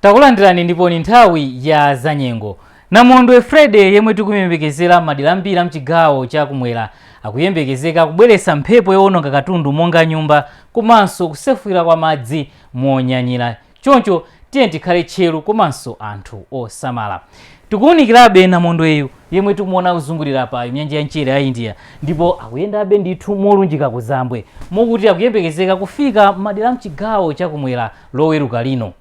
takulandirani ndipo ni nthawi ya zanyengo namondwe freddy yemwe tikumuyembekezera madera ambiri a mchigawo cha kumwera akuyembekezeka kubweretsa mphepo yowononga katundu monga nyumba komanso kusefukira kwa madzi monyanyira Choncho tiyeni tikhale tcheru komanso anthu osamala. Tikuwunikirabe namondweyu yemwe tikumuona akuzungulira pa nyanja ya mchere ya India ndipo akuyendabe ndithu molunjika kuzambwe mokuti akuyembekezeka kufika m'madera a m'chigawo cha kumwera Loweruka lino.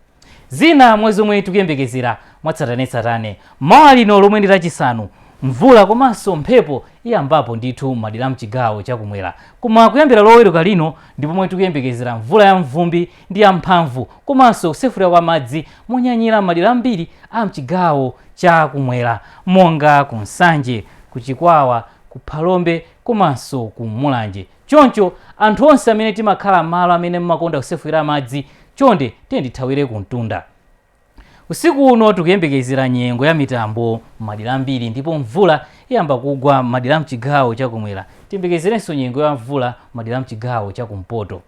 Zina mwa zomwe tikuyembekezera mwatsatanetsatane. Mawa lino lomwe ndi Lachisanu, mvula komanso mphepo iyambapo ndithu m'madera a m'chigawo cha kumwera. Koma kuyambira Loweruka lino ndi pomwe tikuyembekezera mvula yamvumbi ndi yamphamvu komanso kusefukira kwa madzi monyanyira m'madera ambiri a m'chigawo cha kumwera monga ku Nsanje, ku Chikwawa, ku Phalombe komanso ku Mulanje. Choncho, anthu onse amene timakhala m'malo amene mumakonda kusefukira madzi, chonde tiyeni tithawire kumtunda. Usiku uno tikuyembekezera nyengo ya mitambo m'madera ambiri ndipo mvula iyamba kugwa m'madera a m'chigawo cha kumwera. Tiyembekezerenso nyengo ya mvula m'madera a m'chigawo cha kumpoto.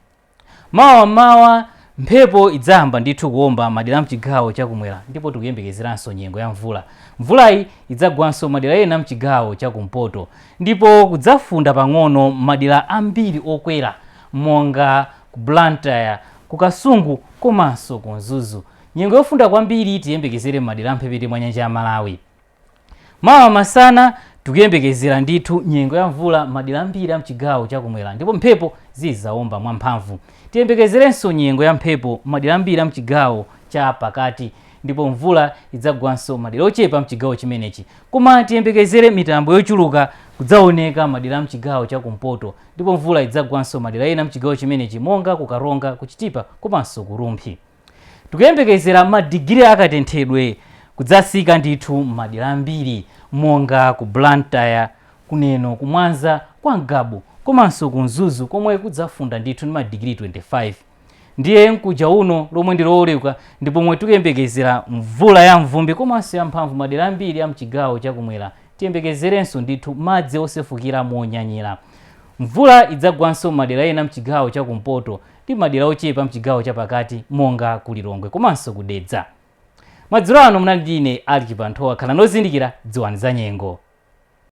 Mawa m'mawa mphepo idzayamba ndithu kuomba madera amchigawo chakumwera ndipo tikuyembekezeranso nyengo ya mvula. Mvulayi idzagwanso madera ena amchigawo chakumpoto ndipo kudzafunda pang'ono m'madera ambiri okwera monga ku Blantyre, ku Kasungu komanso ku Mzuzu. Nyengo yofunda kwambiri tiyembekezere m'madera amphepete mwa nyanja ya Malawi. Mawa masana tikuyembekezera ndithu nyengo ya mvula m'madera ambiri a m'chigawo cha kumwera ndipo mphepo zidzawomba mwamphamvu. Tiyembekezerenso nyengo ya mphepo m'madera ambiri a m'chigawo cha pakati ndipo mvula idzagwanso m'madera ochepa a m'chigawo chimenechi. Koma tiyembekezere mitambo yochuluka kudzaoneka m'madera a m'chigawo cha kumpoto ndipo mvula idzagwanso m'madera ena a m'chigawo chimenechi monga ku Karonga, ku Chitipa komanso ku Rumphi. Tikuyembekezera ma digiri a katenthedwe kudzatsika ndithu m'madera ambiri monga ku Blantyre, ku Neno, ku Mwanza, kwa Ngabu komanso ku Mzuzu komwe kudzafunda ndithu ndi ma digiri 25. Ndiye mkuja uno lomwe ndi Loweruka ndi pomwe tikuyembekezera mvula ya mvumbi komanso ya mphamvu madera ambiri a mchigawo cha kumwera tiyembekezerenso ndithu madzi osefukira monyanyira. Mvula idzagwanso m'madera ena mchigawo cha kumpoto ndi madera ochepa mchigawo cha pakati monga ku Lilongwe komanso ku Dedza. Madzulo ano munali ndi ine Alick Chibanthowa, khalani ozindikira, dziwani zanyengo.